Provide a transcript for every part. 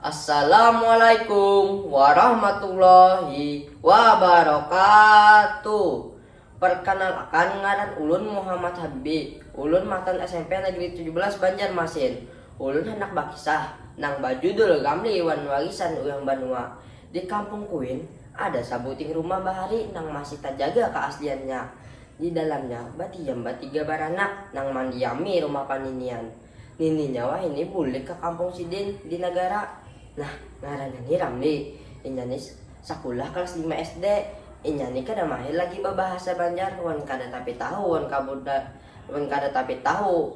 Assalamualaikum warahmatullahi wabarakatuh Perkenalkan ngaran ulun Muhammad Habbi Ulun matan smp Negeri tujuh belas Banjarmasin Ulun handak bakisah nang bajudul Ramli wan Warisan Urang Banua Di kampung kuin ada sabuting rumah bahari nang masih tajaga kaasliannya Di dalamnya badiam batiga baranak nang mandiami rumah paninian. Nininya wahini bulik ka kampung sidin di Nagara. Nah, ngarannya ni Ramli. Inya ni sakulah kalas lima SD. Inya ni kada mahir lagi babahasa Banjar wan kada tapi tahu wan wan kada tapi tahu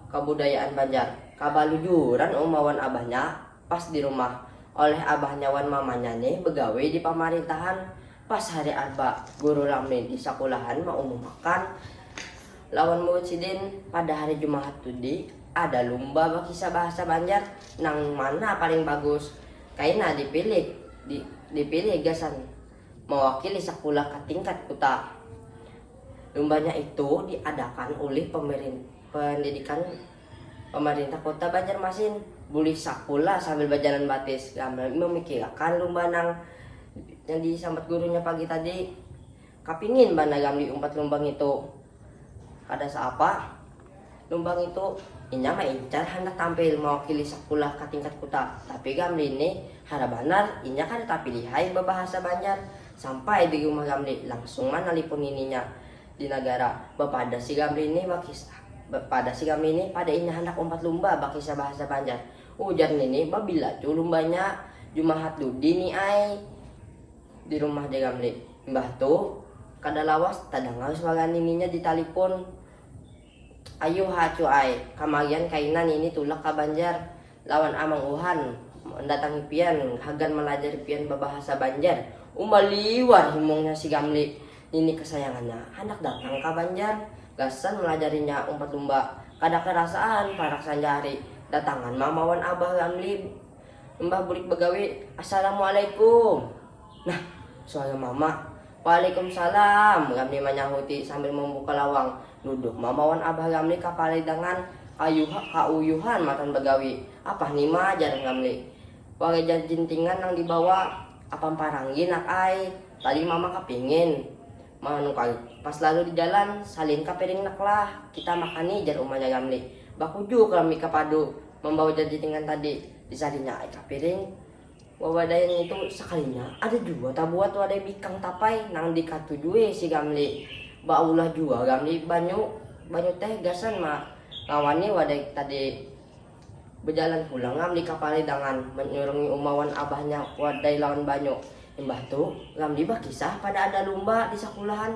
kabudayaan Banjar. Kabalujuran uma wan abahnya pas di rumah. Oleh abahnya wan mamanya ni begawi di pamarintahan. Pas hari arba, guru Lamin di sakulahan maumumakan lawan murid sidin pada hari jumahat tudi ada lumba bakisah bahasa banjar nang mana paling bagus kaina dipilih di dipilih gasan mawakili sakulah ka tingkat kuta. Lumbanya itu diadakan ulih pemirin pendidikan. Pamarintah Kota Banjarmasin bulih sakulah sambil bajalan batis kami mamikirakan lumba nang yang disambat gurunya pagi tadi. Kapingin banar kami diumpat lumba ngitu. Kada saapa, lumba ngitu inya maincar handak tampil mawakili sakulah ka tingkat kuta, tapi kami nih hara banar inya kada tapilihai babahasa Banjar. Sampai di rumah kami langsung manalipun nininya. Di nagara, bapadah si Gamli nih bakisah. Bapadah si Gamli nih pada inya handak umpat lumba bakisah bahasa Banjar. Ujar nini, babila cu lumbanya? Jumahat dudi ni ai. Di rumah ja Gamli. Imbah tu, kada lawas tadangar suara nininya di talipun. Ayuha cu ai, kamagian kaina nini tulak ka Banjar. lawan Amang Uhan mandatangi pian hagan malajari pian babahasa Banjar. Uma liwar himungnya si Gamli, nini kasayangannya. Handak datang ka Banjar, gasan malajarinya umpat lumba. Kada karasaan parak sanjahari datangan mama wan abah Gamli imbah bulik bagawi. Assalamualaikum. Nah, suara mama. Waalaikumsalam, Ramli manyahuti sambil mambuka lawang. Duduk mama wan abah Ramli kapalidangan kauyuhan matan bagawi. Apah ni ma, jar Ramli. Wareja jintingan nang dibawa. Apam paranggi nak ai, tadi mama kapingin manukar pas lalu di jalan, salin ka piring nak lah, kita makan ni, jar umanya Ramli. Bakujuk Ramli ka padu mambawa jar jintingan tadi, disalinya ai ka piring. Wawadai ngintu sakalinya ada jua tabuat wadai bikang tapai nang dikatujui si Gamli. Baulah jua Gamli banyu, banyu teh gasan ma ngawani wadai tadi. Bejalan pulang Gamli ka Palai Dangan manyurungi uma wan abahnya wadai lawan banyu. Imbah tu Gamli bakisah pada ada lumba di sakulahan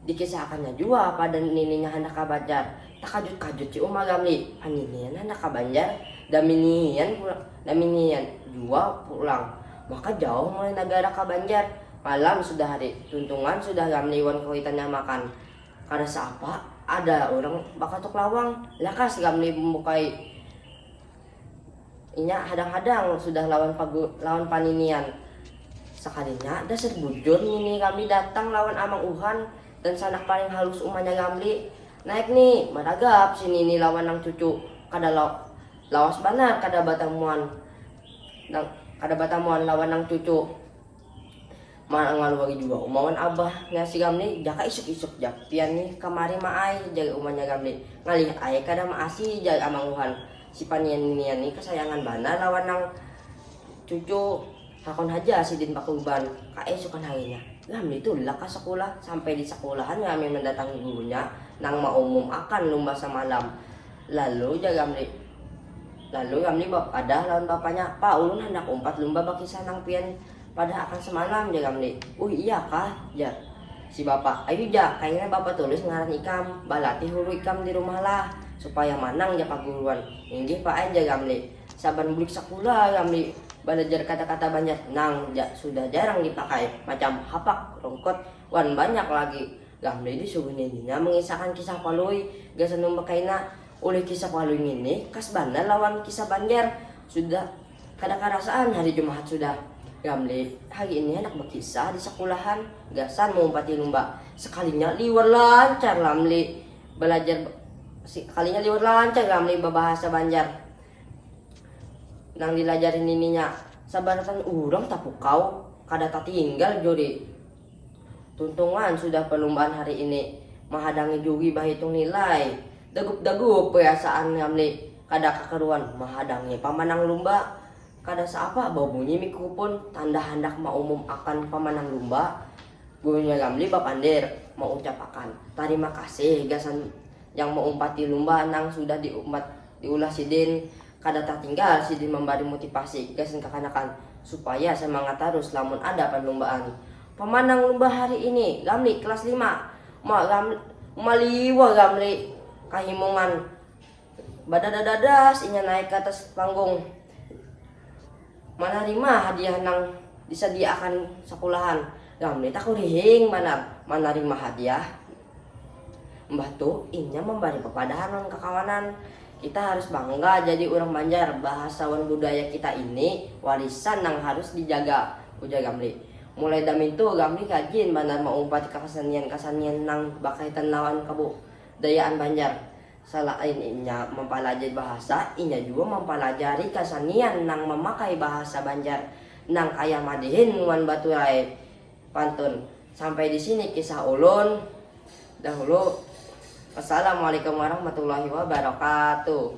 Dikisahakannya jua pada nininya handak ka Banjar. Takajut-kajut si Uma Gamli, pa ninian handak ka Banjar, daminian jua pulang. Maka jauh mulai nagara ka Banjar. Malam sudah hari, tuntungan sudah Gamli wan kawitannya makan. Kada saapa, ada urang bakatuk lawang. Lakas Gamli mambukai. Inya hadang-hadang sudah lawan pagu lawan paninian. Sakalinya dasar bujur ngini Ramli datang lawan Amang Uhan dan sanak paling halus umanya Ramli. Naik ni, maragap si nini lawan nang cucu. Kada lawas banar kada batamuan nang kada batamuan lawan nang cucu. Mana ngalui lagi jua uma wan abah nya si Ramli jaka isuk isuk jak pian nih kamari ma ai jar uma nya Ramli, ngalih ai kada ma asi jar amang luhan, si panian nginian nih kasayangan banar lawan nang cucu, hakon haja sidin bakurban ka esukan harinya Ramli tulak ka sakulah, sampai di sakulahan Ramli mandatangi gurunya nang ma umum akan lumba samalam, lalu jar Ramli. Lalu Ramli bapadah lawan bapanya, Pa, ulun handak umpat lumba bakisah nang pian padah akan semalam, jar Ramli. Uih, iya kah? jar si bapa. Ayu ja, kayanya bapa Tulis ngaran ikam, balatih hulu ikam di rumah lah, supaya manang ja paguruan. Inggih Pa ai, jar Ramli. Saban bulik sakula Ramli balajar kata-kata Banjar nang sudah jarang dipakai, macam hapak, rungkut, wan banyak lagi. Ramli disuguh nininya mangisahkan kisah Palui gasan lumba kaina. Ulih kisah Palui ngini khas banar lawan kisah Banjar. Sudah kada karasaan hari Jumahat sudah. Gamli hari ini handak bakisah di sakulahan gasan maumpati lumba. Sakalinya liwar lancar Lamli balajar sakalinya liwar lancar Gamli babahasa Banjar nang dilajari nininya. Sabarataan urang tapukau kada tatinggal juri Tuntungan sudah perlumbaan hari ini, mahadangi juri bahitung nilai. Dagup-dagup perasaan Ramli, kada kakaruan mahadangi pamanang lumba. Kada saapa babunyi mikrupun, tanda handak maumum akan pamanang lumba, gurunya Ramli bapandir, maucap akan tarima kasih gasan yang maumpati lumba nang sudah diumpat diulah sidin, kada tatinggal sidin mambari mutipasi gasan kakanakan supaya samangat tarus lamun ada panlumbaan. Pamanang lumba hari ini, Ramli, kelas lima. Ma, Ram, maliwar Ramli kahimungan. Badadadas inya naik ka atas panggung. Manarima hadiah nang disadiaakan sakulahan. Gam ni takurihing banar manarima hadiah. Mbah tu inya mambari papadahan wan kakawanan. Kita harus bangga jadi urang Banjar, bahasa wan budaya kita ini warisan nang harus dijaga, ujar Gamli. Mulai damintu Gamli rajin banar maumpati kakasanian-kasanian nang bakaitan lawan kabudayaan Banjar. Salain inya mampalajari bahasa, inya jua mampalajari kasanian nang mamakai bahasa Banjar nang kaya madihin wan baturai pantun. Sampai di sini kisah ulun dahulu. Wassalamualaikum warahmatullahi wabarakatuh.